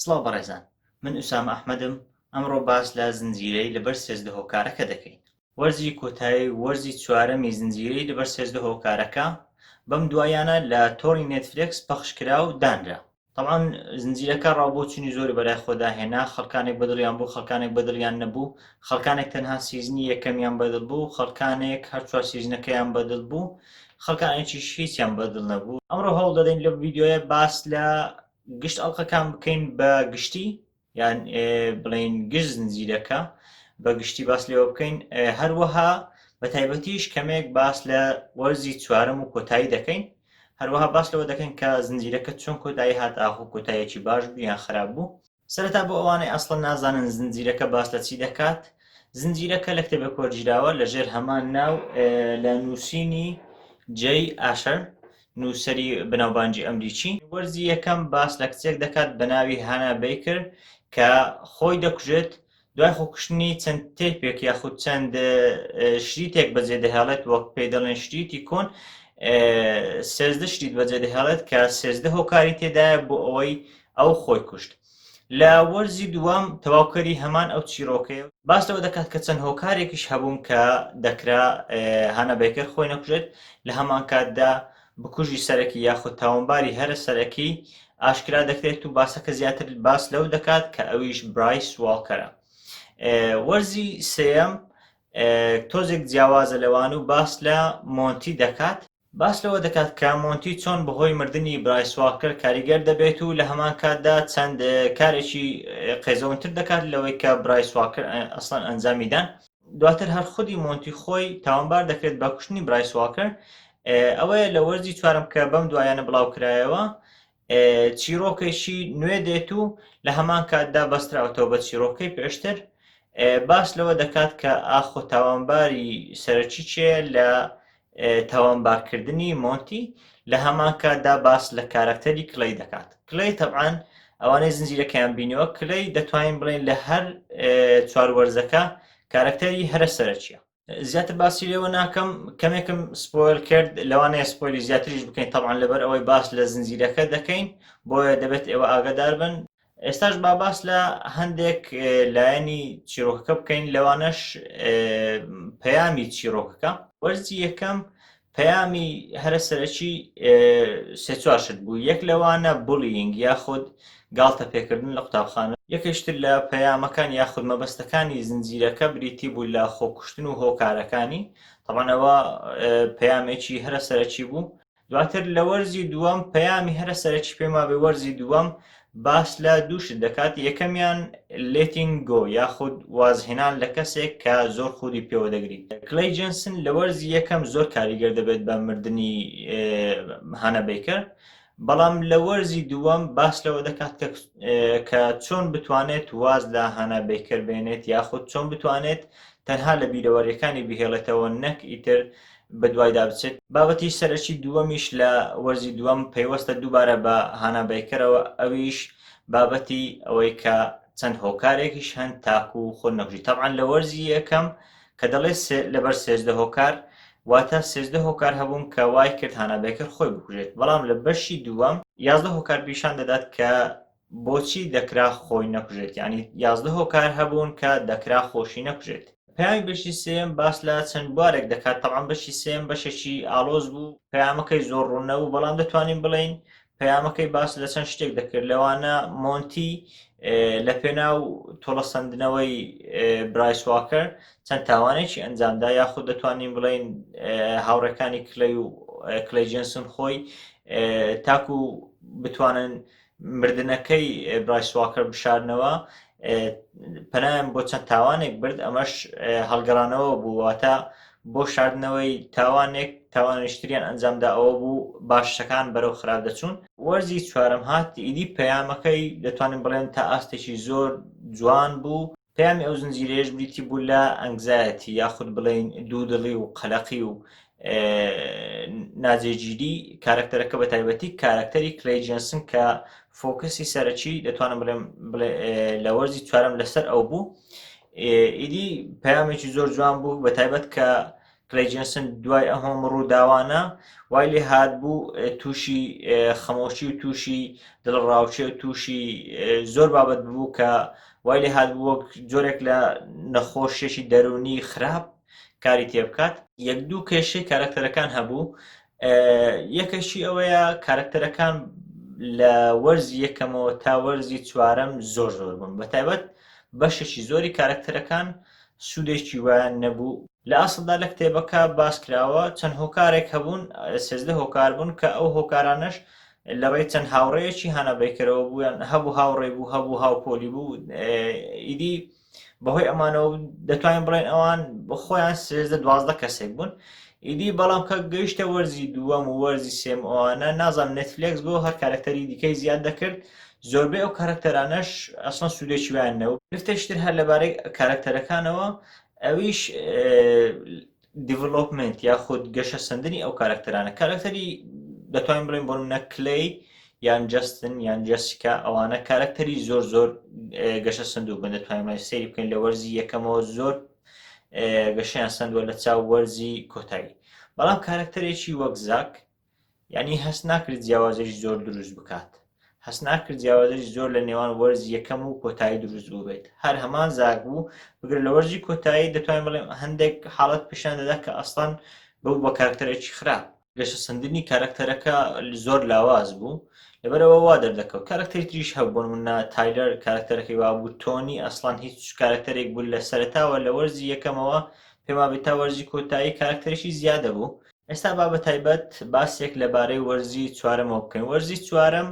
سڵاو بەڕێزان من ئوسامە ئەحمەدم ئەمڕۆ باس لە زنجیرەی لەبەر سێزدە هۆکارەکە دەکەین. وەرزی کۆتایی وەرزی چوارەمی زنجیرەی لەبەر سێزدە هۆکارەکە بەم دواییانە لە تۆڕی نێتفلێکس پەخش کرا و دانرا. تەبعەن زنجیرەکە ڕاو بۆچونی زۆری بەلای خۆدا هێنا، خەڵکانێک بەدڵیان بوو خەڵکانێک بەدڵیان نەبوو، خەڵکانێک تەنها سیزنی یەکەمیان بەدڵ بوو، خەڵکانێک هەر چوار سیزنەکەیان بەدڵ بوو، خەڵکانێکیش هیچیان بەدڵ نەبوو. ئەمڕۆ هەوڵ دەدەین لەم ڤیدیۆیە باس لە گشت ئەڵلقەکان بکەین بە گشتی یان بڵین گشت زنجیرەکە بە گشتی باس لێوە بکەین هەروەها بە تایبەتیش کەمێک باس لە وەرزی چوارم و کۆتایی دەکەین هەروەها باس لەوە دەکەین کە زنجیرەکە چۆن کۆتایی هات ئاخۆ کۆتایەکی باش بوو یان خراپ بوو سەرەتا بۆ ئەوانەی ئەسڵە نازانن زنجیرەکە باس لە چی دەکات زنجیرەکە لە کتێبێک وەرگیراوە لەژێر هەمان ناو لە نووسینی جێی ئاشەر نووسەری بەناوبانگی ئەمریکی. وەرزی یەکەم باس لە کچێک دەکات بە ناوی هانا بەیکر کە خۆی دەکوژێت، دوای خۆکوشتنی چەند تەیپێک یاخود چەند شریتێک بەجێ دەهێڵێت وەک پێی دەڵێن شریتی کۆن سێزدە شریت بەجێ دەهێڵێت کە سێزدە هۆکاری تێدایە بۆ ئەوەی ئەو خۆی کوشت. لە وەرزی دووەم تەواوکەری هەمان ئەو چیرۆکەیە و باس لەوە دەکات کە چەند هۆکارێکیش هەبوون کە دەکرا هانا بەیکەر خۆی نەکوژێت لە هەمانکاتدا بکوژی سەرەکی یاخود تاوانباری هەرە سەرەکی ئاشکرا دەکرێت و باسەکە زیاتر باس لەو دەکات کە ئەویش برایس واڵکەرە وەرزی سێەم تۆزێک جیاوازە لەوان و باس لە مۆنتی دەکات باس لەوە دەکات کە مۆنتی چۆن بەهۆی مردنی برایس واڵکەر کاریگەر دەبێت و لە هەمان کاتدا چەند کارێکی قێزەونتر دەکات لەوەی کە برایس واڵکەر ئەسڵەن ئەنجامی دان. دواتر هەر خودی مۆنتی خۆی تاوانبار دەکرێت بە کوشتنی برایس واڵکەر، ئەوەیە لە وەرزی چوارەم کە بەم دواییانە بڵاوکرایەوە، چیرۆکێکی نوێ دێت و لە هەمان کاتدا بەستراوەتەوە بە چیرۆکەی پێشتر باس لەوە دەکات کە ئاخۆ تاوانباری سەرەکی چێ لە تاوانبارکردنی مۆنتی لە هەمان کاتدا باس لە کارەکتەری کلەی دەکات کلەی تەبان ئەوانەی زنجیرەکەیان بینیوە کلەی دەتوانین بڵێن لە هەر چوار وەرزەکە کارەکتەری هەرە سەرەکیە زیاتر باسی لێوە ناکەم کەمێکم سپۆل کرد لەوانەیە سپۆلی زیاتریش بکەین تەوان لەبەر ئەوەی باس لە زنجیرەکە دەکەین بۆیە دەبێت ئێوە ئاگدار بن ئێستاش باباس لە هەندێک لایەنی چیرۆکەکە بکەین لەوانەش پەیامی چیرۆکەکە وەرزی یەکەم پەیامی هەرە سەرەکی سێ چوار شت بوو یەک لەوانە بڵینگ یاخود گاڵتە پێکردن لە قوتابخانە یەکەشتر لە پەیامەکان یاخود مەبەستەکانی زنجیرەکە بریتی بوو لە خۆکوشتن و هۆکارەکانی تەبانەوە پەیامێکی هەرە سەرەکی بوو دواتر لە وەرزی دووەم پەیامی هەرە سەرەکی پێما بێ وەرزی دووەم باس لە دوو شت دەکات، یەکەمیان Letting Go یاخود وازهێنان لە کەسێک کە زۆر خودی پێوە دەگریت. کلەی جێنسن لە وەرزی یەکەم زۆر کاریگەر دەبێت بە مردنی هانا بەیکەر، بەڵام لە وەرزی دووەم باس لەوە دەکات کە چۆن بتوانێت واز لە هانا بەیکەر بێنێت یاخود چۆن بتوانێت تەنها لە بیرەوەریەکانی بهێڵێتەوە نەک ئیتر بەدوایدا بچێت. بابەتی سەرەکی دووەمیش لە وەرزی دووەم پەیوەستە دووبارە بە هانا بەیکەرەوە، ئەویش بابەتی ئەوەی کە چەند هۆکارێکیش هەن تاکو خۆت نەکوژی، تەبعەن لە وەرزی یەکەم کە دەڵێت لەبەر سێزدە هۆکار، واتە سێزدە هۆکار هەبوون کە وایکرد هانا بەیکەر خۆی بکوژێت، بەڵام لە بەشی دووەم، یازدە هۆکار پیشان دەدات کە بۆچی دەکرا خۆی نەکوژێت یانی یازدە هۆکار هەبوون کە دەکرا خۆشی نەکوژێت. پەیامی بەشی سێیەم باس لە چەند بوارێک دەکات تەبعەن بەشی سێیەم بەشێکی ئاڵۆز بوو پەیامەکەی زۆر ڕوون نەبوو بەڵام دەتوانین بڵێین پەیامەکەی باس لە چەند شتێک دەکرد لەوانە مۆنتی لە پێناو تۆڵەسەندنەوەی برایس واکەر چەند تاوانێکی ئەنجامدا یاخود دەتوانین بڵین هاوڕێکانی کلەی و کلەی جنسن خۆی تاکو بتوانن مردنەکەی برایس واکەر بشارنەوە پەنایان بۆ چەند تاوانێک برد ئەمەش هەڵگەڕانەوە بوواتە بۆ شاردنەوەی تاوانێک تاوانشتریان ئەنجامدا ئەوە بوو باشەکان بەرەو خراپ دەچوون وەرزی چوارم هات ئیدی پەیامەکەی دەتوانین بڵێن تا ئاستێکی زۆر جوان بوو پەیامی ئەو زنجیرەیەش بریتی بوو لە ئەنگزایەتی یاخود بڵێین دوودڵی و قەلەقی و ناجێگیری کارکتەرەکە بە تایبەتی کارکتەری کلی جنسن کە فۆکسی سەرەکی دەتوانم بڵێم لە وەرزی چوارم لەسەر ئەو بوو ئیدی پامێکی زۆر جوان بوو بە تایبەت کە کلەی جێنسن دوای ئەم هەموو ڕووداوانە وای لێ هاتبوو تووشی خەمۆشی و تووشی دڵڕاوچێ و تووشی زۆر بابەت بوو کە وای لێ هاتبوو وەک جۆرێک لە نەخۆشیێکی دەرونی خراپ کاری تێ بکات یەک دوو کێشەی کارکتەرەکان هەبوو یەکەشی ئەوەیە کارکتەرەکان لە وەرزی یەکەمەوە تا وەرزی چوارەم زۆر زۆر بوون بە تایبەت بەشێکی زۆری کارکتەرەکان سوودێکی وایان نەبوو. لە ئەسڵدا لە کتێبەکە باس کراوە چەند هۆکارێک هەبوون، سێزدە هۆکار بوون کە ئەو هۆکارانەش لە ڕێی چەند هاوڕێیەکی هانا بەیکەرەوە بوو، یان هەبوو هاوڕێی بوو، هەبوو هاوپۆلی بوو، ئیدی بەهۆی ئەمانەوە دەتوانین بڵێن ئەوان خۆیان سێزدە دوازدە کەسێک بوون. ئیدی بەڵام کە گەیشتە وەرزی دووەم و وەرزی سێم ئەوانە نازانم نێتفلێکس بۆ هەر کارەکتەری دیکەی زیاد دەکرد زۆربەی ئەو کارەکتەرانەش ئەسڵەن سوودێکی وایان نەبوو گرفتێکشتر هەر لەبارەی کارەکتەرەکانەوە ئەویش دیڤلۆپمنت یاخود گەشە سندنی ئەو کارەکتەرانە کارەکتەری دەتوانین بڵێن بۆ منە کلی یان جستن یان جسیکا ئەوانە کارەکتەری زۆر زۆر گەشە سندوو بن دەتوانین سری بکەین لە وەرزی یەکەمەوە زۆر گەشیان سندوە لە چاو وەرزی کۆتایی بەڵام کارەکتەرێکی وەک زاک یانی هەست ناکرد جیاوازیش زۆر دروست بکات هەست ناکرد جیاوازیش زۆر لە نێوان وەرز یەکەم و کۆتایی دروست بووبێت هەر هەمان زاک بوو بگرە لە وەرزی کۆتایی دەتوانین بڵێم هەندێک حاڵەت پیشان دەدا کە ئەسڵان بەو بە کارکتەرێکی خراپ گەشە سندنی کارکتەرەکە زۆر لاواز بوو لەبەرەوە وا دەردەکەوت کارکتەری تریش هەبوون منە تایلەر کارکتەرەکەی وابوو تۆنی ئەسڵان هیچ کارکتەرێک بوو لە سەرتاوە لە وەرزی یەکەمەوە پێما بێت تا وەرزی کۆتایی کارکتەرشی زیادە بوو ئێستا با بە تایبەت باسێک لەبارەی وەرزی چوارەمەوە بکەین وەرزی چوارەم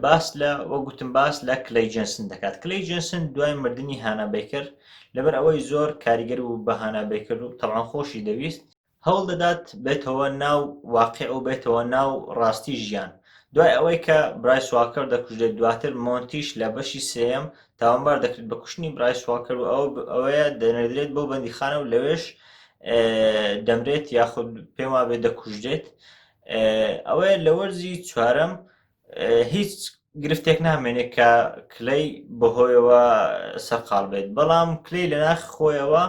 باس لە وە گوتم باس لە کلەی جنسن دەکات کلەی جنسن دوای مردنی هانابیکرد لەبەر ئەوەی زۆر کاریگەر و بە هانابیکرد و تەوان خۆشی دەویست هەوڵ دەدات بێتەوە ناو واقع و بێتەوە ناو ڕاستی ژیان دوای ئەوەی کە برای سواکەر دەکوژێت دواتر مۆنتیش لە بەشی سێم تاوانبار دەکرێت بە کوشتنی برای سواڵکەر و ئەو ئەوەیە دەنێدرێت بۆ بەندیخانە و لەوێش دەمرێت یاخود پێم وابێت دەکوژرێت ئەوەیە لە وەرزی چوارەم هیچ گرفتێک نامێنێت کە کلەی بەهۆیەوە سەرقال بێت بەڵام کلەی لە ناخ خۆیەوە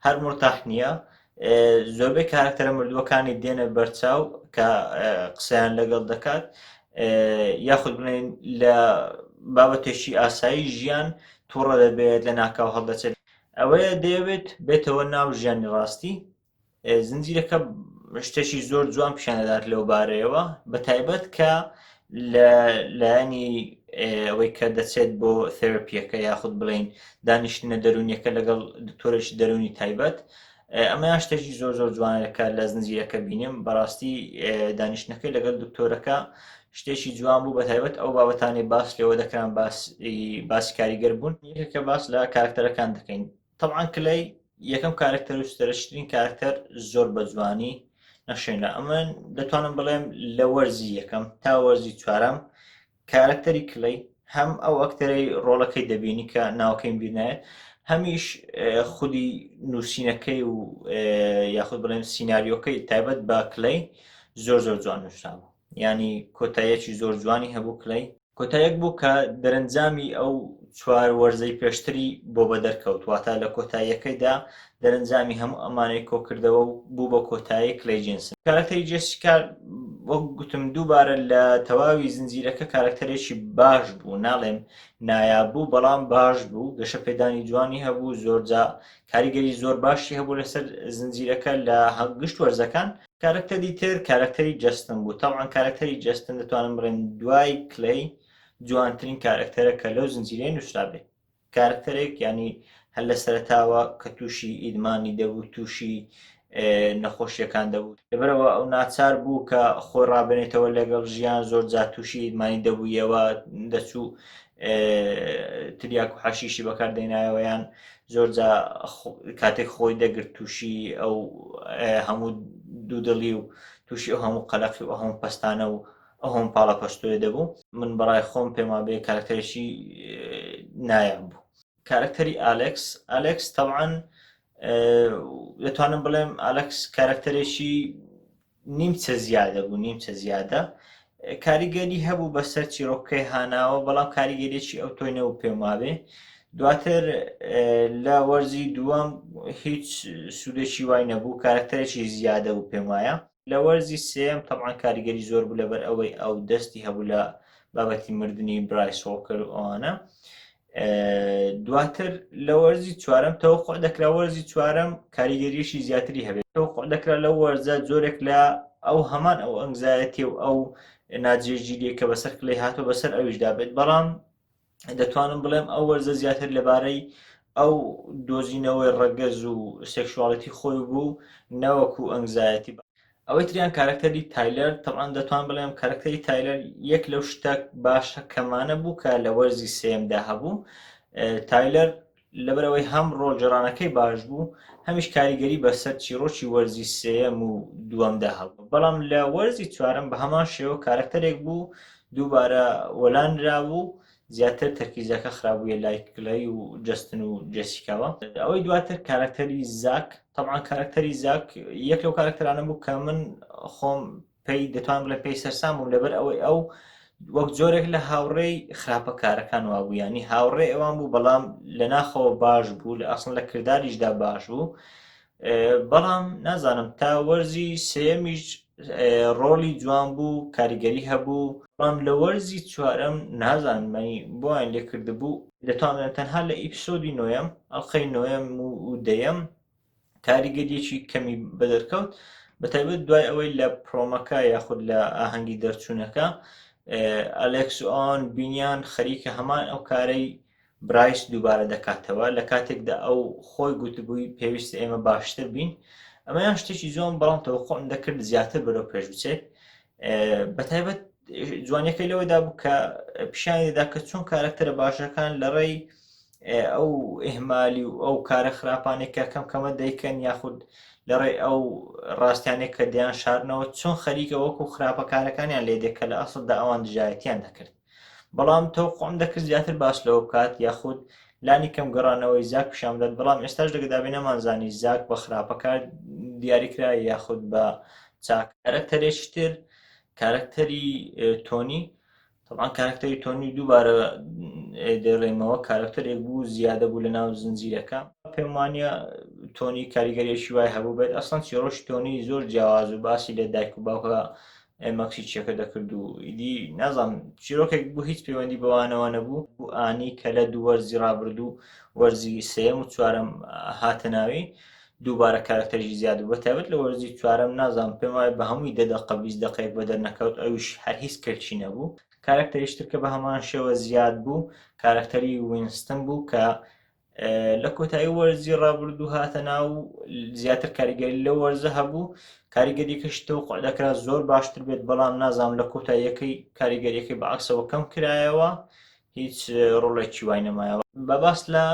هەر مرتاح نییە زۆربەی کارکتەرە مردووەکانی دێنە بەرچاو کە قسەیان لەگەڵ دەکات یاخود بڵێن لە بابەتێکی ئاسایی ژیان تووڕە دەبێت لە ناکاو هەڵدەچێت ئەوەیە دەیەوێت بێتەوە ناو ژیانی ڕاستی زنجیرەکە شتێکی زۆر جوان پیشاندەدات لەو بارەیەوە بە تایبەت کە لە لایەنی ئەوەی کە دەچێت بۆ تێرپیەکە یاخود بڵین دانیشتنە دەرونیەکە لەگەڵ دکتۆرش دەرونی تایبەت ئەمەیان شتێکی زۆر زۆر جوانەکە لە زنجیرەکە بینیم بەڕاستی دانیشتەکەی لەگەڵ دکتۆرەکە شتێکی جوان بوو بە تایبەت ئەو بابەتانی باس لەوە دەکران باس باسی کاریگەر بوون یەکێکە باس لە کارکتەرەکان دەکەین تەبعەن کلەی یەکەم کارەکتەر و سەرەکیترین کارەکتەر زۆر بە جوانی نەخشێنا ئەمن دەتوانم بڵێم لە وەرزی یەکەم تا وەرزی چوارەم کارەکتەری کلەی هەم ئەو ئەکتەرەی ڕۆڵەکەی دەبینی کە ناوکەین بینایە هەمیش خودی نووسینەکەی و یاخود بڵێن سینناریۆکەی تایبەت بە کلەی زۆر زۆر جوان نووسرابوو یانی کۆتاییەکی زۆر جوانی هەبوو کلەی. کۆتایەک بوو کە دەرەنجامی ئەو چوار وەرزەی پێشتری بۆ بەدەرکەوت واتە لە کۆتاییەکەیدا دەرەنجامی هەموو ئەمانەی کۆکردەوە و بوو بە کۆتایی کلەی جێنسن کارەکتەری جێسیکا وەک گوتم دووبارە لە تەواوی زنجیرەکە کارەکتەرێکی باش بوو ناڵێم نایاب بوو بەڵام باش بوو گەشە پێدانی جوانی هەبوو زۆرجا کاریگەری زۆر باشی هەبوو لەسەر زنجیرەکە لە هەگشت وەرزەکان کارەکتەری تر کارەکتەری جستن بوو تاوان کارەکتەری جستن دەتوانم بڕێن دوای کلی جوانترین کارەکتەرە کە لەو زنجیرە نووسرابێ کارەکتەرێک ینی هەل لە سەرتاوە کە تووشی ئیدمانی دەبوو تووشی نەخۆشیەکان دەبوو لەبەرەوە ئەو ناچار بوو کە خۆی ڕابێنێتەوە لەگەڵ ژیان زۆر جاتوشی مانی دەبوویەوە دەچوو تریاک و حەشیشی بەکار دەینایەوەیان زۆرجا کاتێک خۆی دەگرت تووشی ئەو هەموو دوودڵی و تووشی ئەو هەموو قەلەقی و هەموو پستانە و ئەوم پاڵە پەشتۆێ دەبوو من بەڕای خۆم پێما بێ کارکتەرێکی نایاب بوو کارکتەری ئالکس ئالکس تەوان دەتوانم بڵێم ئالکس کارکتەرێکی نیمچە زیادە بوو نیمچە زیادە کاریگەری هەبوو بەسەر چیرۆکەکەی هاناوە بەڵام کاریگەریی ئەو تۆی نەبوو پێم وابێ دواتر لە وەرزی دووەم هیچ سوودێکی وای نەبوو کارەکتەرێکی زیادە بوو پێم وایە لە وەرزی سێم تەمان کاریگەری زۆر بوو لەبەر ئەوەی ئەو دەستی هەبوو لە بابەتی مردنی برای سۆڵکەر و ئەوانە دواتر لە وەرزی چوارم تەوەخۆ دەکرا وەرزی چوارم کاریگەریشی زیاتری هەبێت تەوەخۆ دەکرا لە وەرزە زۆرێک لە ئەو هەمان ئەو ئەنگزایەتی و ئەو ناجێگیریە کە بەسەر کلی هاتۆ بەسەر ئەویشدا بێت بەڵام دەتوانم بڵێم ئەو وەرزە زیاتر لەبارەی ئەو دۆزینەوەی ڕەگەز و سێکشواڵەتی خۆی بوو نەوەکو ئەنگزایەتی ئەوەی تریان کارەکتەری تایلەر تەبعەن دەتوان بڵێم کارەکتەری تایلەر یەک لەو شتە باشە کەمانە بوو کە لە وەرزی سێمدا هەبوو تایلەر لەبەرەوەی هەم ڕۆژێڕانەکەی باش بوو هەمیش کاریگەری بەسەر چیڕۆکی وەرزی سێم و دووەمدا هەبوو بەڵام لە وەرزی چوارم بە هەمان شێوە کارەکتەرێک بوو دووبارە وەلانرا بوو زیاتر تەرکیزەکە خرابوویە لای کلەی و جەستن و جێسیکاوە ئەوەی دواتر کارەکتەری زاک تەبان کارەکتەری زاک یەک لەو کارەکتەرانە بوو کە من خۆم پێی دەتوان بڵێ پێی سەرسام بووم لەبەر ئەوەی ئەو وەک جۆرێک لە هاوڕێی خراپە کارەکان وابوو ینی هاوڕێ ئەوان بوو بەڵام لە ناخەوە باش بوو لە ئەسن لە کردداریشدا باش بوو بەڵام نازانم تا وەرزی سێمیش ڕۆڵی جوان بوو کاریگەری هەبوو بەڵام لە وەرزی چوارەم نازانمەنی بۆیان لێکردبوو دەتوانن تەنها لە ئیپسۆدی نۆیەم ئەڵلقەی نۆیەم و دەیەم کاریگەریەکی کەمی بەدەرکەوت بەتایبەت دوای ئەوەی لە پرۆمەکە یاخود لە ئاهەنگی دەرچوونەکە ئەلێکس ئۆن بینیان خەریکە هەمان ئەو کارەی برایس دووبارە دەکاتەوە، لە کاتێکدا ئەو خۆی گوتبووی پێویستە ئێمە باشتر بین، ئەمەیان شتێکی جوان بەڵام تەوەقوعم دەکرد زیاتر بەرەو پێش بچێت بەتایبەت جوانیەکەی لەوەدا بوو کە پیشانی دەدا کە چۆن کارەکتەرە باشەکان لە ڕێی ئەو ئهمالی و ئەو کارە خراپانێکە کەم کەمە دەیکەن یاخود لە ڕێ ئەو ڕاستیانێک کە دیان شارنەوە چۆن خەریکە وەکو خراپەکارەکانیان لێ دێکە لە ئەسڵدا ئەوان دژایەتیان دەکرد بەڵام تەوقوعم دەکرد زیاتر باس لەوە بکات یاخود لانی کەم گەڕانەوەی زاک پیشان بدات بەڵام ئێستاش لەگەدابێ نەمانزانی زاک بە خراپەکار دیاریکرا یاخود بە چاک کارەکتەرێکی تر کارەکتەری تۆنی طبعا کارکتەری تۆنی دووبارە دەڕێمەوە کارکتەرێک بوو زیادە بوو لە ناو زنجیرەکە پێم وانە تۆنی کاریگەریەکی وای هەبوو بێت ئەسان چیڕۆژ تۆنی زۆر جیاواز و باسی لە دایک و باوکە مەکسی چیەکە دەکرد و ئیدی نازانم چیرۆکێک بوو هیچ پەیوەندی بەوانەوە نەبوو و ئانی کە لە دوو وەرزی ڕابردوو وەرزی سێم و چوارم هاتە ناوی دووبارە کارکتەرژی زیاد بە تابێت لە وەرزی چوارم نازانم پێم وایە بە هەمووی دە دەقە بیست دقەیەک بە دەرنەکەوت ئەوش هەر هیچ کەلکی نەبوو کارکتەریشتر کە بە هەمان شێوە زیاد بوو کارکتەری وینستن بوو کە لە کۆتایی وەرزی ڕابردوو هاتە ناو زیاتر کاریگەری لە وەرزە هەبوو کاریگەریەکەشی تۆ قعدەکرا زۆر باشتر بێت بەڵام نازانام لە کۆتاییەکەی کاریگەریەکەی بە عکسەوە کەم کرایەوە هیچ ڕۆڵێکی وای نەمایەوە بە باس لە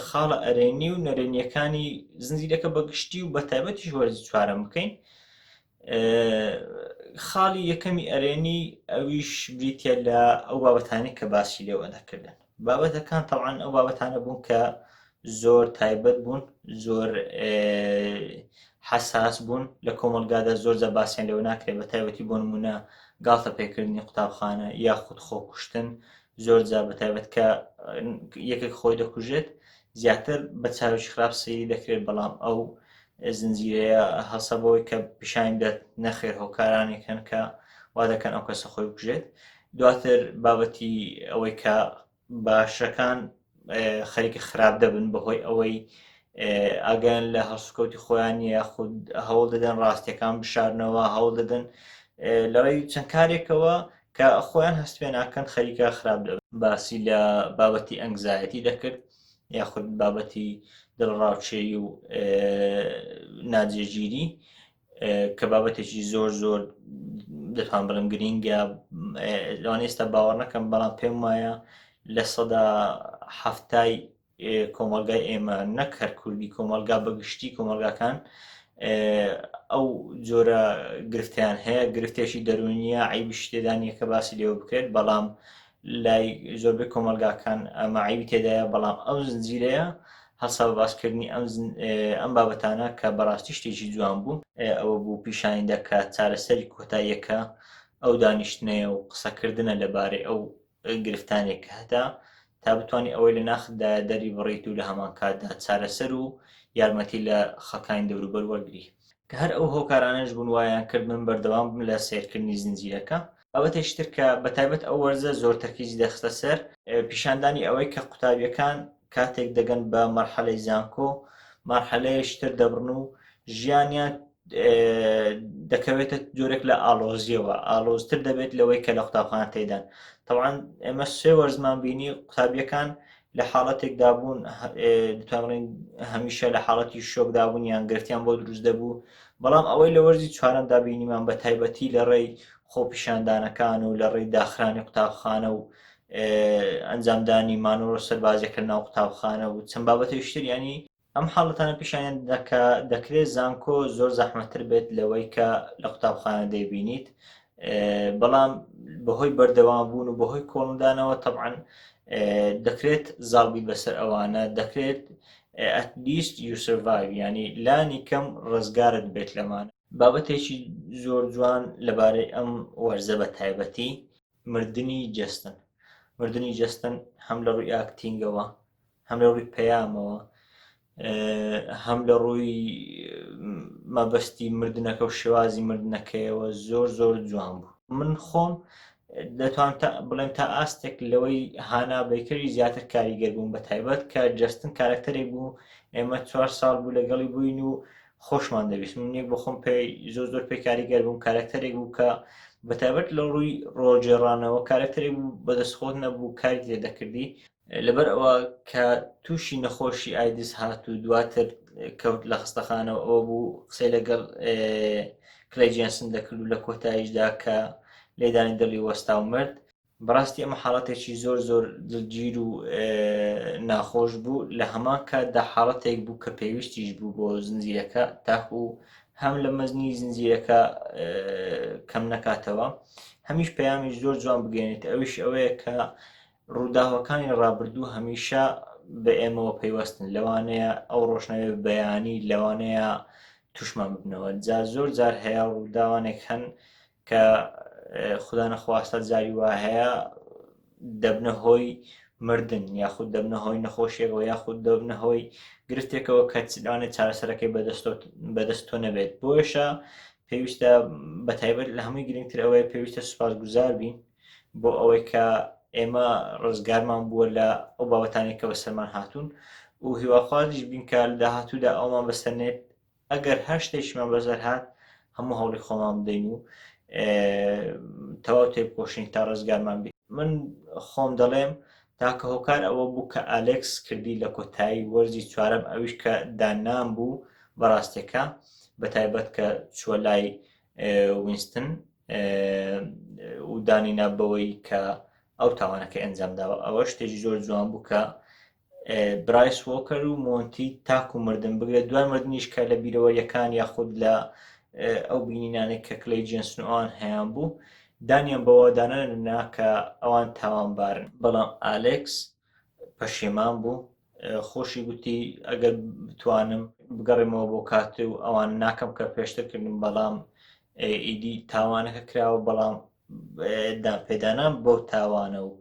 خاڵە ئەرێنی و نەرێنیەکانی زنجیرەکە بەگشتی و بە تایبەتیش وەرزی چوارم بکەین خاڵی یەکەمی ئەرێنی ئەویش بریتە لە ئەو بابەتانی کە باسی لێوە دەکردن بابەتەکان تەوان ئەو بابەتانە بوون کە زۆر تایبەت بوون زۆر حساس بوون لە کۆمەلگادا زۆر جە باسییان لەوە ناکرێت بە تایبەتی بۆ نمونە گاڵتە پێکردنی قوتابخانە یاخود خۆکوشتن زۆر جار بە تایبەت کە یەکێک خۆی دەکوژێت زیاتر بە چاویش خراپ سەیری دەکرێت بەڵام ئەو زنجیرەیە هەڵسە بەوەی کە پیشانی دەت نەخێر هۆکارانێک هەن کە وا دەکەن ئەو کەسە خۆی بکوژێت دواتر بابەتی ئەوەی کە باشەکان خەریکە خراپ دەبن بەهۆی ئەوەی ئاگیان لە هەڵسوکەوتی خۆیان یاخود هەوڵ دەدەن ڕاستیەکان بشارنەوە هەوڵ دەدەن لەڕێی چەند کارێکەوە کە خۆیان هەست پێ ناکەن خەریکە خراپ دەبن باسی لە بابەتی ئەنگزایەتی دەکرد یاخود بابەتی دڵڕاوچێی و ناجێگیری کە بابەتێکی زۆر زۆر دەتوان بڵم گرینگە لەوان ئێستا باوەڕ نەکەم بەڵام پێم وایە لە سەدا هەفتای کۆمەلگای ئێمە نەک هەر کوردی کۆمەلگا بەگشتی کۆمەلگاکان ئەو جۆرە گرفتیان هەیە گرفتێکی دەرونیە عیبش تێدانە کە باسی لێوە بکرێت بەڵام لای زۆربەی کۆمەلگاکان ئەمە عیبی تێدایە بەڵام ئەو زنجیرەیە هەسا بە باسکردنی ئەم ئەم بابەتانە کە بەڕاستی شتێکی جوان بوو ئەوە بوو پیشانی دەکە چارەسەری کۆتاییەکە ئەو دانیشتنەیە و قسەکردنە لەبارەی ئەو گرفتانێک کە هەتا تا بتانی ئەوەی لە ناخدا دەری بڕیت و لە هەمان کاتدا چارەسەر و یارمەتی لە خەکانی دەوروبەر وەرگری کە هەر ئەو هۆکارانەش بوون وایان کرد من بەردەوام بم لە سیرکردنی زنجیرەکە بابەتێکی تر کە بە تایبەت ئەو وەرزە زۆر تەرکیزی دەخستە سەر پیشاندانی ئەوەی کە قوتابیەکان کاتێک دەگەن بە مەرحەلەی زانکۆ مارحەلەیەشتر دەبڕن و ژیانیان دەکەوێتە جۆرێک لە ئالۆزیەوە ئالۆزتر دەبێت لەوەی کە لە قوتابخان تێدان تەوان ئێمە سێ وەرزمان بینی قوتابیەکان لە حاڵەتێکدا بوون دەتوانڵین هەمیشە لە حاڵەتی شۆکدا بوون یان گرفتیان بۆ دروست دەبوو بەڵام ئەوەی لە وەرزی چوارەمدا بینیمان بە تایبەتی لە ڕێی خۆپیشاندانەکان و لە ڕێی داخرانی قوتابخانە و ئەنجامدانی مانۆرۆ سەربازیەکە ناو قوتابخانە و چەند بابەتێشتر ینی ئەم حاڵەتانە پیشانیان دەدات کە دەکرێت زانکۆ زۆر زەحمەتتر بێت لەوەی کە لە قوتابخانە دەیبینیت بەڵام بەهۆی بەردەوام بوون و بەهۆی کۆڵندانەوە تەبعاان دەکرێت زاڵبیت بەسەر ئەوانە دەکرێت ئەتلیست یوسڤای ینی لانی کەم ڕزگارت بێت لەمانە بابەتێکی زۆر جوان لەبارەی ئەم وەرزە بە تایبەتی مردنی جەستەن مردنی جەستەن هەم لە ڕووی ئاکتینگەوە هەم لە ڕووی پەیامەوە هەم لە ڕووی مەبەستی مردنەکە و شێوازی مردنەکەیەوە زۆر زۆر جوان بوو من خۆم دەتوان بڵێن تا ئاستێک لەوەی هانا بەیکەری زیاتر کاریگەر بووم بە تایبەت کە جستن کارکتەرێک بوو ئێمە چوار ساڵ بوو لەگەڵی بووین و خۆشمان دەویست من یەک بە خۆم پێ زۆر زۆر پێ کاریگەر بووم کارکتەرێک بوو کە بەتابەت لە ڕووی ڕۆژێڕانەوە کارکتەرێک بوو بەدەستخۆت نەبوو کاری لێ دەکردی لەبەر ئەوە کە تووشی نەخۆشی ئایدز هات و دواتر کەوت لە خستەخانەوە ئەوە بوو قسەی لەگەڵ کلەی جێنسن دەکرد و لە کۆتاییشدا کە لێدانی دڵی وەستا و مرد بەڕاستی ئەمە حاڵەتێکی زۆر زۆر دڵگیر و ناخۆش بوو لە هەمان کاتدا حاڵەتێک بوو کە پێویستیش بوو بۆ زنجیرەکە تاکو هەم لە مەزنی زنجیرەکە کەم نەکاتەوە هەمیش پەیامیش زۆر جوان بگەێنێت ئەویش ئەوەیە کە ڕووداوەکانی ڕابردوو هەمیشە بە ئێمەوە پەیوەستن لەوانەیە ئەو ڕۆشنەوێ بەیانی لەوانەیە توشمان ببنەوە جا زۆر جار هەیە ڕووداوانێک هەن کە خودا نەخواستە جاری وا هەیە دەبنە هۆی مردن یاخود دەبنە هۆی نەخۆشیەکەەوە یاخود دەبنە هۆی گرفتێکەوە کە لەوانێت چارەسەرەکەی بەدەست تۆ نەبێت بۆشە پێویستە بە تایبەت لە هەمووی گرنگتر ئەوەیە پێویستە سوپاس گوزار بین بۆ ئەوەی کە ئێمە ڕزگارمان بووە لە ئەو بابەتانێک کە بە سەرمان هاتوون و هیواخوازیش بینکار داهاتوودا ئەومان بەسەرێت ئەگەر هەر شتێکیمان بەسەر هات هەموو هەوڵی خۆمان بدەین و تەواو تێبکۆشین تا ڕزگارمان بی من خۆم دەڵێم تاکە هۆکار ئەوە بوو کە ئالێکس کردی لە کۆتایی وەرزی چوارەم ئەویش کە داننان بوو بەڕاستێکە بە تایبەت کە چووە لای وینستن و دانینا بەوەی کە ئەو تاوانەکە ئەنجام داوە ئەوە شتێکی زۆر جوان بوو کە برایس وۆکەر و مۆنتی تاکو مردن بگرە دوای مردنیش کە لە بیرەوەریەکان یاخود لە ئەو بینینانێک کە کلەی جنسنوان هەیان بوو دانیان بەوە دانەننا کە ئەوان تاوانبارن بەڵام ئالێکس پەشێمان بوو خۆشی گوتی ئەگەر بتوانم بگەڕێمەوە بۆ کات و ئەوان ناکەم کە پێشتر کردن بەڵام ئیدی تاوانەکە کراوە بەڵام دانپێدانان بەو تاوانە و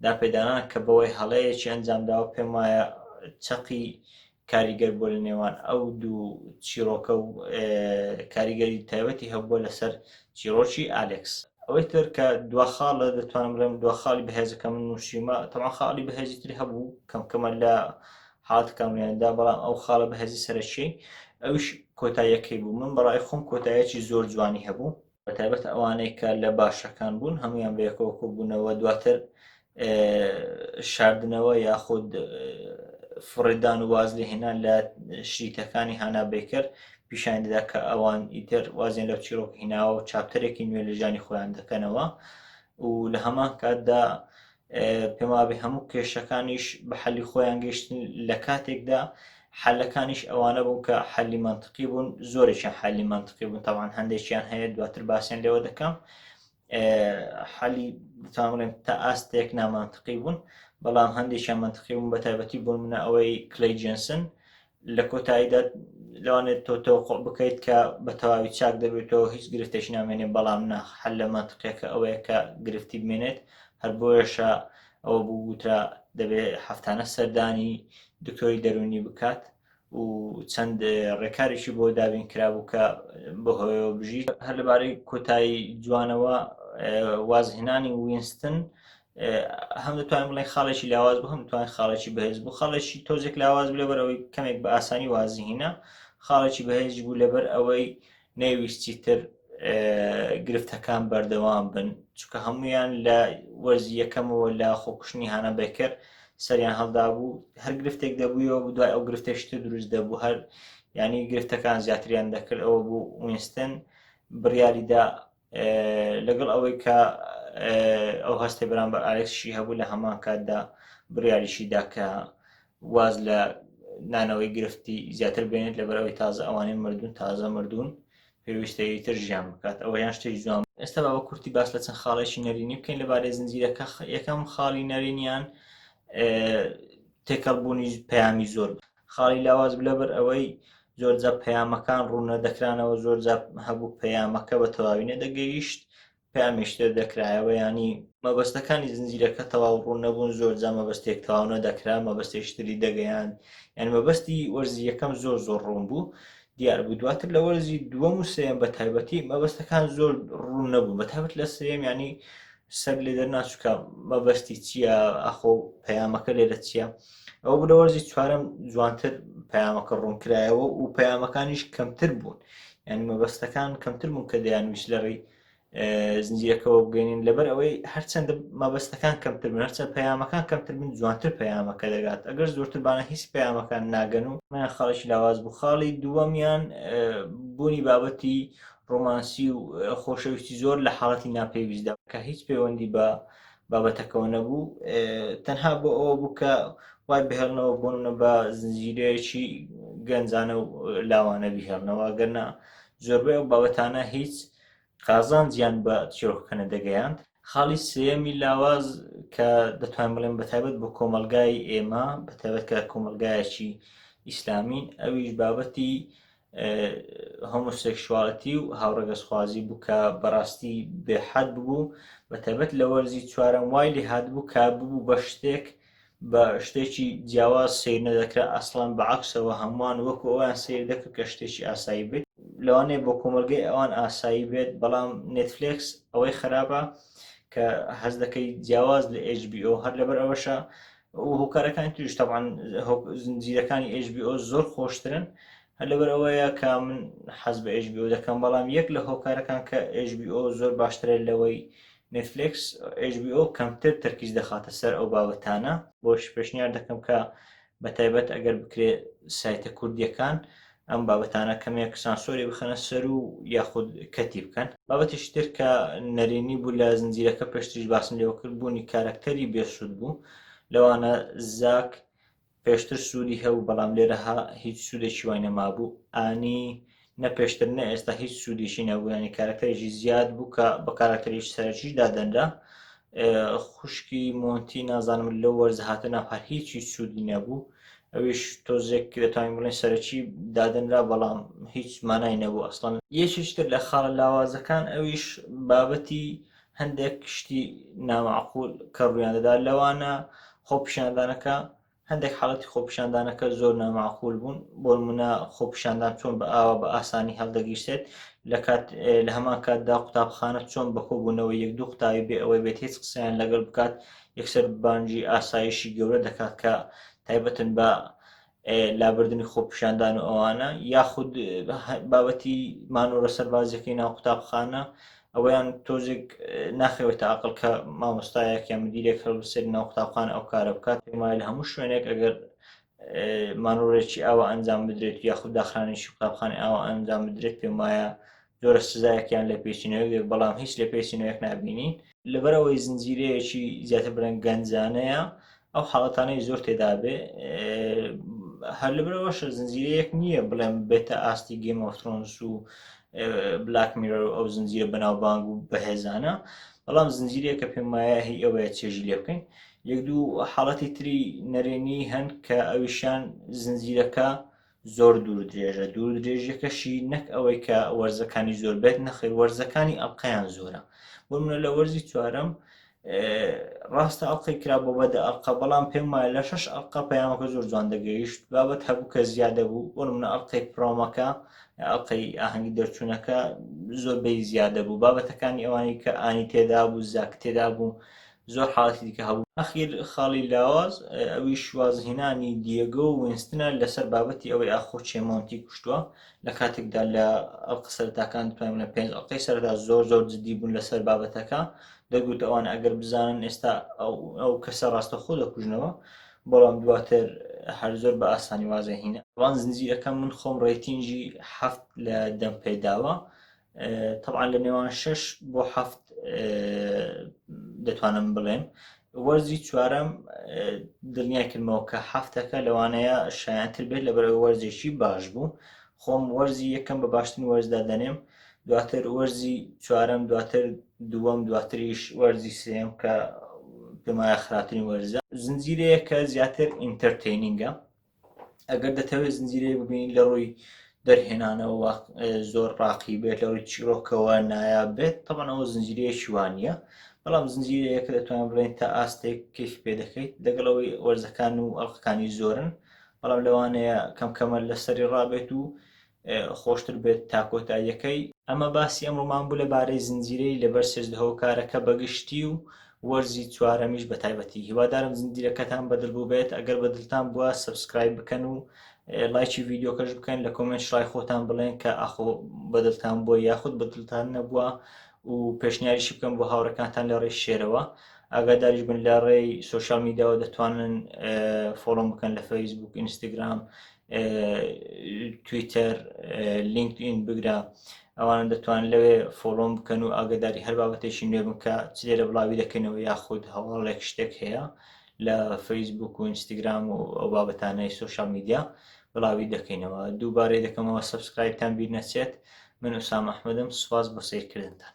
دانپێدانان کە بەوەی هەڵەیەکی ئەنجامداوە پێم وایە چەقی کاریگەر بۆ لە نێوان ئەو دوو چیرۆکە و کاریگەری تایبەتی هەبووە لەسەر چیرۆکی ئالکس ئەوەی تر کە دوا خاڵە دەتوانم بڵێم دوا خاڵی بەهێزەکە من نووشیمە تەوا خاڵی بەهێزی تری هەبوو کەمکەمە لە حالت کامێندا بەڵام ئەو خاڵە بەهێزی سەرەکی ئەوش کۆتاییەکەی بوو من بەڕای خۆم کۆتایەکی زۆر جوانی هەبوو بەتایبەت ئەوانەی کە لە باشەکان بوون هەمویان بەیەکەوە کۆبوونەوە دواتر شاردنەوە یاخود فڕێدان و واز لە هێنان لە شریتەکانی هانا بەیکەر پیشان دەدا کە ئەوان ئیتر وازیان لەو چیرۆک هیناوە و چاپتەرێکی نوێ لە ژانی خۆیان دەکەنەوە و لە هەمان کاتدا پێم وابێ هەموو کێشەکانیش بە حەلی خۆیان گەشتن لە کاتێکدا حلەکانیش ئەوانە بوون کە حەلی منطقی بوون زۆرێکیان حەلی منطقی بوون تاوان هەندێکیان هەیە دواتر باسیێن لێوە دەکەم حالی بتانڵێن تا ئاستێک نامانتقی بوون بەڵام هەندێکیان منتقی بوون بە تایبەتی بوون منە ئەوەی کلی جنسن لە کۆتاییدا لەوانێت تۆ تۆقۆ بکەیت کە بە تەواوی چاک دەبێتەوە هیچ گرفتێک نامێنێت بەڵام ناخ حل لە ماتقیەکە ئەوەیە کە گرفتی بمێنێت هەر بۆیەشە ئەوە بووترا دەبێت هەفتانە سەردانی دکتۆری دەرونی بکات و چەند ڕێکارێکی بۆ دابین کرابوو کە بەهۆیەوە بژیت هەر لەبارەی کۆتایی جوانەوە وازهێنانی وینستن هەم دەتوانین بڵێن خاڵێکی لاواز بوو هەم توانین خاڵێکی بەهێز بوو خاڵێکی تۆزێک لاواز بلێ بەرەوەی کەمێک بە ئاسانی وازیهینە خاڵێکی بەهێزی بوو لەبەر ئەوەی نەیویستی تر گرفتەکان بەردەوام بن چکە هەمویان لە وەرزی یەکەمەوە لە خۆکوشتنی هانا بەکر سەریان هەڵدا بوو هەر گرفتێک دەبووەوە دوای ئەو گرفتەشتر دروست دەبوو هەر ینی گرفتەکان زیاتریان دەکرد ئەوە بوو وینستن بڕیاریدا لەگەڵ ئەوەی کە ئەو هەستی بەرامبەر ئالێکسشی هەبوو لە هەمان کاتدا بڕیاریشیدا کە واز لە نانەوەی گرفتی زیاتر بێنێت لەبەرەوەی تازە ئەوانەی مردون تازە مردون پێویستەیە تر ژیان بکات ئەوە یان شتێک جوان ئێستا بە کورتی باس لە چەند خاڵێکی نەرینی بکەین لەبارەی زنجیرەکە یەکەم خاڵی نەرینیان تێکەڵبوونی پەیامی زۆر خاڵی لاواز بوو لەبەر ئەوەی زۆرجا پەیامەکان ڕوون نەدەکرانەوە زۆرجا هەبوو پەیامەکە بە تەواوی نەدەگەیشت پامێشتر دەکرایەوە ینی مەبەستەکانی زنجیرەکە تەواو ڕوون نەبوون زۆر جا مەبەستێک تەواو نەدەکرا مەبەستێشتری دەگەیان یان مەبەستی وەرزی یەکەم زۆر زۆر ڕوون بوو دیار بوو دواتر لە وەرزی دووەم و سێم بە تایبەتی مەبەستەکان زۆر ڕوون نەبوو بە تابەت لە سێم ینی سەگ لێ دەرناچووکە مەبەستی چییە ئەخۆ پەیامەکە لێرە چییە ئەو بلەوەرزی چوارم جوانتر پەیامەکە ڕوونکرایەوە و پەیامەکانیش کەمتر بوون ینی مەبەستەکان کەمتر بوون کە دەیان ویش لەڕی زنجیرەکەەوە بگەێنین لەبەر ئەوەی هەرچەندە مەبەستەکان کەمتر بن هەرچەند پەیامەکان کەمتر بن جوانتر پەیامەکە دەگات ئەگەر زۆرتربانە هیچ پەیامەکان ناگەن و من خاڵێکی لاواز بوو خاڵی دووەمیان بوونی بابەتی ڕۆمانسی و خۆشەویستی زۆر لە حاڵەتی ناپێویستدا کە هیچ پەیوەندی بە بابەتەکەەوە نەبوو تەنها بۆ ئەوە بوو کە وای بهێڵنەوە بۆنە بە زنجیرەیەکی گەنجانە و لاوانە بهێڵنەوە گەرنا زۆربەی ئەو بابەتانە هیچ قازان زیان بە چیرۆکەکەنە دەگەیاند خاڵی سێمی لاواز کە دەتوانین بڵێن بە تایبەت بۆ کۆمەلگای ئێمە بە تایبەت کە کۆمەلگایەکی ئیسلامین ئەویش بابەتی هۆمۆسێکشواڵەتی و هاوڕەگەزخوازی بوو کە بەڕاستی بێحەد ببوو بە تایبەت لە وەرزی چوارەم وای لێ هاتبوو کە ببوو بە شتێک بە شتێکی جیاواز سیر نەدەکرا ئەسڵان بە عکسەوە هەمووان وەکو ئەویان سیر دەکرد کە شتێکی ئاسایی بێت لەوانەیە بۆ کۆمەلگەی ئەوان ئاسایی بێت بەڵام نێتفلێکس ئەوەی خراپە کە هەز دەکەی جیاواز لە HBO هەر لەبەر ئەوەشە و هۆکارەکانی توش تاوان زنجیرەکانی HBO زۆر خۆشترن هەر لەبەر ئەوەیە کە من حەز بە HBO دەکەم بەڵام یەک لە هۆکارەکان کە HBO زۆر باشترە لەوەی نتفلکس HBO کەمتر تەرکیز دەخاتە سەر ئەو بابەتانە بۆش پێشنیار دەکەم کە بە تایبەت ئەگەر بکرێ سایتە کوردیەکان ئەم بابەتانە کەمێک سانسۆری بخەنە سەر و یاخود کەتی بکەن بابەتیش تر کە نەرێنی بوو لە زنجیرەکە پێشتریش باسم لێوەکرد بوونی کارەکتەری بێسوود بوو لەوانە زاک پێشتر سوودی هەبوو بەڵام لێرەها هیچ سوودێکی وای نەمابوو ئانی نە پێشتر نە ئێستا هیچ سوودێکی نەبوویانی کارەکتەرێکی زیاد بوو کە بە کارەکتەرێکی سەرەکی دادەنرا خوشکی مۆنتی نازانم لە وەرز هاتە ناو هەر هیچی سوودی نەبوو ئەویش تۆزێک دەتوانین بڵێن سەرەکی دادنرا بەڵام هیچ مانای نەبوو ئەسڵەن یەکیشتر لە خاڵە لاوازەکان ئەویش بابەتی هەندێک شتی نامەعقول کە ڕوویان دەدا لەوانە خۆپیشاندانەکە هەندێک حاڵەتی خۆپیشاندانەکە زۆر ناماقول بوون بۆنمونە خۆپیشاندان چۆن بە ئاوا بە ئاسانی هەڵدەگیرسێت لە کات لە هەمان کاتدا قوتابخانە چۆن بەکۆبوونەوە یەک دوو قوتابی بێ ئەوەی بێت هیچ قسەیان لەگەڵ بکات یەکسەر بانجی ئاسایشی گەورە دەکات کە تایبەتن بە لابردنی خۆپیشاندان و ئەوانە یاخود بابەتی مانۆرە سەربازیەکەی ناو قوتابخانە ئەوەیان تۆزێک ناخەوێتە ئەقڵ کە مامۆستایەک یا مدیرێک هەر سەر ناو قوتابخان ئەو کارە بکات پێمای لە هەموو شوێنێک ئەگەر مانۆڕێکی ئەوە ئەنجام بدرێت یاخود داخرانێکی قوتابخانی ئەوە ئەنجام بدرێت پێم وایە زۆرە سزایەکیان لە پێچینەوەێک بەڵام هیچ لە پێچینەوەک نبینین لەبەرەوەی زنجیرەیەکی زیاتر برەن گەنجانەیە ئەو حاڵەتانەی زۆر تێدابێ هەر لەبرەوەش زنجیرەیەک نییە بڵێم بێتە ئاستی گەیم ئۆفترۆنس و بلاک میرۆ ئەو زنجیرە بەناوبانگ و بەهێزانە بەڵام زنجیرەیە کە پێم وایە هی ئەوەیە چێژی لێ بکەین یەک دوو حاڵەتی تری نەرێنی هەن کە ئەویشان زنجیرەکە زۆر دوور درێژە دوور درێژیەکەشی نەک ئەوەی کە وەرزەکانی زۆر بێت نەخیر وەرزەکانی ئەڵلقەیان زۆرە بۆ منە لە وەرزی چوارم ڕاستە ئەڵلقەی کرا بۆ بەدە ئەڵلقە بەڵام پێم وایە لە شش ئەڵلقە پەیامەکە زۆر جوان دەگەیشت بابەت هەبوو کە زیادە بوو بۆ منە ئەڵلقەی پرۆمەکە ئەڵلقەی ئاهەنگی دەرچوونەکە زۆربەی زیادە بوو بابەتەکانی ئەوانی کە ئانی تێدا بوو زاک تێدا بوو زۆر حاڵەتی دیکە هەبوو. ئەخیر خاڵی لاواز ئەویش وازهێنانی دیێگۆ و وینستنە لەسەر بابەتی ئەوەی ئاخۆ کێ مۆنتی کوشتووە، لە کاتێکدا لە ئەڵقە سەرەتاکان بتوانین بڵێین پێنج ئەڵقەی سەرەتا زۆر زۆر جددی بوون لەسەر بابەتەکە، دەگوت ئەوان ئەگەر بزانن ئێستا ئەو کەسە ڕاستەوخۆ دەکوژنەوە، بەڵام دواتر هەر زۆر بە ئاسانی وازهێنان. ڕەنگ زنجیرەکە من خۆم ڕەیتینگی حەفت لە دەم پێداوە، تەبعا لە نێوان شش بۆ هەفت دەتوانم بڵێم وەرزی چوارەم دڵنیای کردمەوە کە هەفتەکە لەوانەیە شایانتر بێت لە بەرەوە وەرزێکی باش بوو خۆم وەرزی یەکەم بە باشترین وەرزدا دەنێم دواتر وەرزی چوارەم دواتر دووەم دواتریش وەرزی سێم کە پێمایە خراپترین وەرزە زنجیرەیە کە زیاتر ئینتەرتینینگە ئەگەر دەتەوێت زنجیرەیەک ببینین لە ڕووی دەرهێنانەوە زۆر ڕاقی بێت لە ڕووی چیرۆکەوە نایا بێت تەبەنەوە زنجیرەیە شوانە بەڵام زنجیرەیەکە دەتوان بڵێن تا ئاستێک کەیف پێ دەکەیت لەگەڵەوەی وەرزەکان و ئەڵلقەکانی زۆرن بەڵام لەوانەیە کەم کەمە لەسەری ڕابێت و خۆشتر بێت تا کۆتاییەکەی. ئەمە باسی ئەمڕۆمان بوو لەبارەی زنجیرەی لەبەر چێژدە هۆکارەکە بەگشتی و وەرزی چوارەمیش بەتایبەتی هیوادارم زنجیرەکەتان بەدڵ بووبێت ئەگەر بەدڵتان بووە سەبسکرایب بکەن و لایکی ڤیدیۆکەش بکەن لە کۆمێنت شڕای خۆتان بڵێن کە ئاخۆ بەدڵتان بووە یاخود بەدڵتان نەبووە و پێشنیاریشی بکەم بۆ هاوڕەکانتان لە ڕێی شێرەوە ئاگاداریش بن لە ڕێی سوۆشال میدیاوە دەتوانن فۆڵۆم بکەن لە فەیسبوک ئینستاگرام تویتەر لینکدئین بگرە ئەوان دەتوان لەوێ فۆڵۆم بکەن و ئاگداری هەر بابەتێکی نوێ بکە چ لێرە بڵاوی دەکەنەوە یاخود هەواڵێک شتێک هەیە لە فەیسبوک و ئینستاگرام و ئەو بابەتانەی سوۆشال میدیا بڵاوی دەکەینەوە دووبارەی دەکەمەوە سبسکرایبتان بیر نەچێت من ئوسام ئەحمدم سوپاس بۆ سیرکردنتان